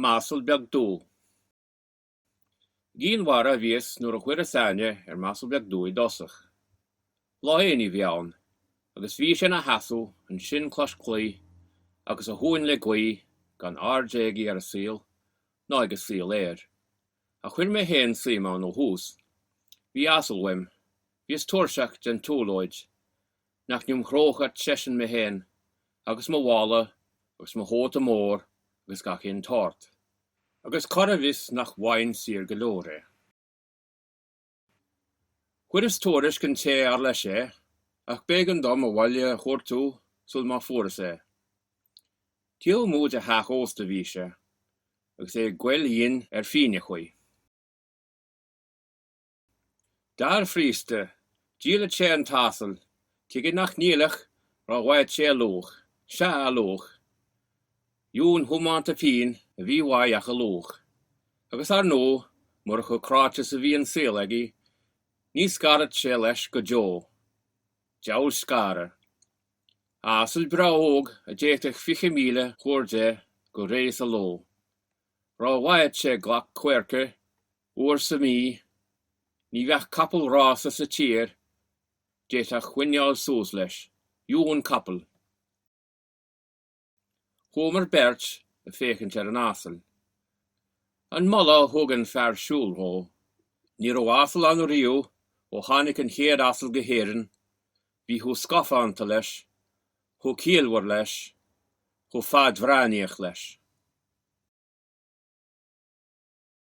M'asal beag dubh. I gCinn Mhara a bhíos nuair a chuireas aithne ar m'asal beag dubh i dtosach. Lá aonaigh a bhí ann agus bhí sé ina sheasamh ansin cois claí agus a thóin le gaoith gan aird aige ar an saol ná ag an saol air. Ach chuir mé féin suim ann ó thús. Bhí asal uaim. Bhíos tuirseach den tsiúlóid. nach n-iomchródh seisean mé féin agus mo mhála agus mo chóta mór agus gach aon tsórt, agus cá raibh fhios nach bhfaighinn saor go leor é. Chuireas tuairisc an té ar leis é, ach b'éigean dom an baile a chuartú sul má fuaireas é. Taobh amuigh de theach ósta a bhí sé, agus é ag gabháil fhoinn ar phingneachaí. Dar príosta, dhíolfadh sé an t-asal, tuige nach ndíolfadh dá bhfaigheadh sé a luach, sea, a luach, dheamhan tiomanta pingin a bhí uaidh ach a luach, agus ar ndóigh, murach chomh cráite is a bhí an saol aige, ní scarfadh sé leis go deo. Diabhal scaradh. Asal breá óg a d'fhéadfadh fiche míle a chur de go réidh sa ló. Dá bhfaigheadh sé glac coirce. Uair sa mhí, ní bheadh capall rása sa tír, d'fhéadfadh coinneáil suas leis. Dheamhan capall. Chuamar beirt ag féachaint ar an asal. An moladh a thug an fear siúl dhó, ní raibh asal ann riamh ó tháinig an chéad asal go hÉirinn, bhí chomh scafánta leis, chomh ciallmhar leis, chomh fadbhreathnaíoch leis.